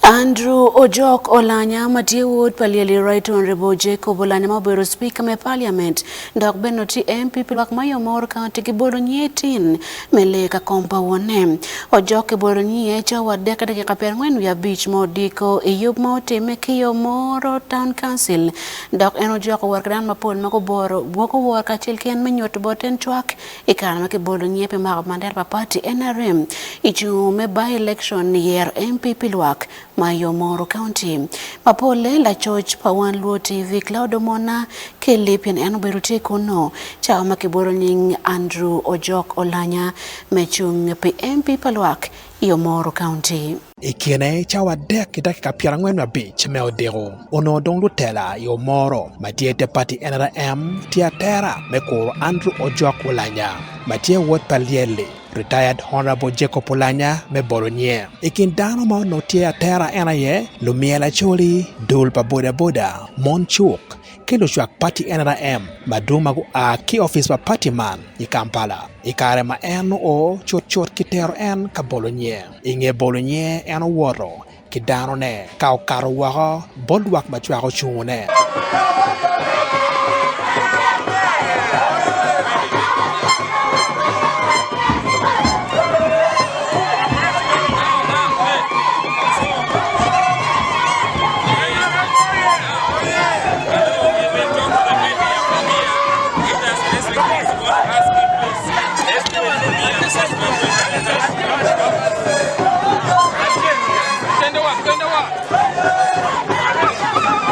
Andrew Ojok Olanya ma tye wod pa Lyeli Rayton Rebo Jacob Olanya ma obedo Cipika me Paliament dok bene otye MP pi lwak ma Yomoro County kibolo nyiye tin me lee ka kom pa wonne. Ojok kibolo nyiye cawa adek ki dakika pyerangwen wiye abic ma odiko i yub ma otimme ki Yomoro Town Council dok en ojok owor ki dano mapol ma guboro gwoko wor kacel ki en me nyuto bote en cwak I kare ma kibolo nying pi mako bandera pa pati nrm i cung me by-election yero MP pi lwak ma yo Moro County ma polle lacoc pa Wan Luo TV Cloud Omona Kelly pien en obedo tye kunnu cawa ma kibolo nying Andrew Ojok Olanya me cung pi MP pa lwak yo Moro County. I kine cawa adek ki dakika pyerangwen ma abic me odiko, onongo dong lutela i Omoro ma tye te pati NRM tye atera me kuro Andrew Ojok Ulanya ma tye wod pa Lyelli, Retired Honourable Jacob Ulanya me bolo nye. I kin dano ma onongo tye atera en aye Lumyel Acholi, dul pa boda boda, mon cuk, ki lucwak pati NRM madwong ma gua ki opic pa pati man i Kampala i kare ma en oo cut cut ki tero en ka bolo nye. I nge bolo nyinge en owoto ki danone ka okato woko bot lwak ma cwako cungune.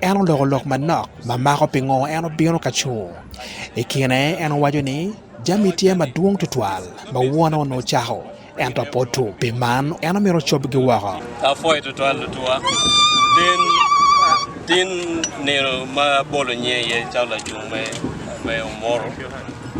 En oloko lok manok ma mako pingo en obino ka cung. I kine en owaco ni, 'Jami tye madwong tutwal ma wona onongo ocako. ento pe otur. Pi man, en omito ocobgi woko. Apwoyo twatwal lutuwa tin nino ma abolo nyinge iye calo lacung me Omoro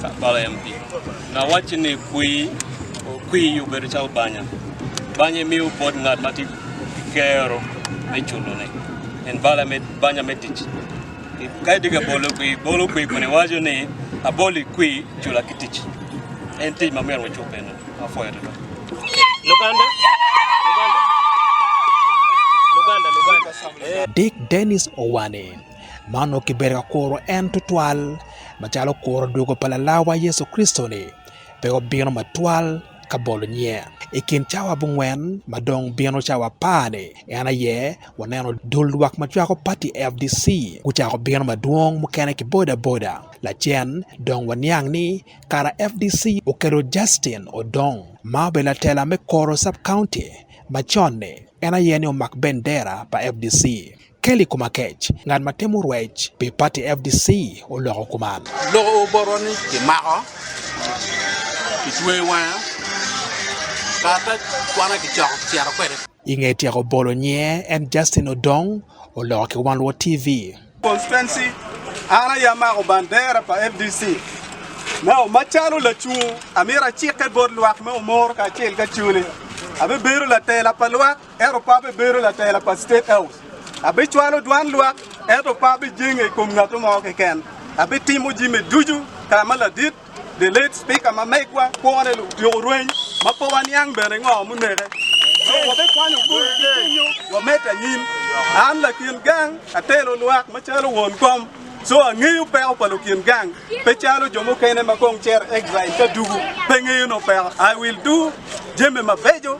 Kampala MP. Awacci ni kwir obedo calo banya, banya imiyo bot ngat ma tye ki kero me culone, eni banya me tic. Ka itye ka bolo kwir, bolo kwir kun iwaco ni, Aboli kwir, cula ki tic. En tic ma myero wacub eno, apwoyo twatwa. Luganda, Luganda, Luganda. Dick Dennis Owane ma onongo kibedo ka kuro en tutwal, macalo kuro dwogo pa Lalawa Yecu Kricito-ni, pe obino matwal. ka bolo nyiye. I kin cawa abongwen ma dong bino cawa apar-ni, en aye waneno dul lwak ma cwako pati FDC gucako bino madwong mukene ki bodaboda. Lacen dong waniang ni kara FDC okelo Justin Odong ma obedo latela me Koro Sub-County macon-ni, en aye ni omak bendera pa FDC. Kelly Komakech, ngat ma timo rwec pi pati fdc oloko kuman. Loko oboto ni kimako, kitweyo wanga, karata kwana kicoko kicito kwede. I nge tyeko bolo nyiye en Justin Odong oloko ki Wan Luo TV. Constituency, an aye amako bandera pa fdc ma macalo lacungo, amyero acike bot lwak me Omoro kacel ki Acholi, abibedo latela pa lwak. ento pe abibedo latela pa State House. Abicwalo dwan lwak, ento pe abijenge i kom ngat mo keken. Abitimo jami ducu ka ma ladit, the late Speaker ma megwa, kwone lutyeko rweny ma pe waniang bene ngo muneke. So wabikwanyo kulu ki cwinywa wamed anyim. An lakin gang atelo lwak macalo won kom, so angeyo peko pa lukin gang, pe calo jo mukene ma kong cito exile ka dugu pe ngeyo nongo peko. I will do jami mabeco.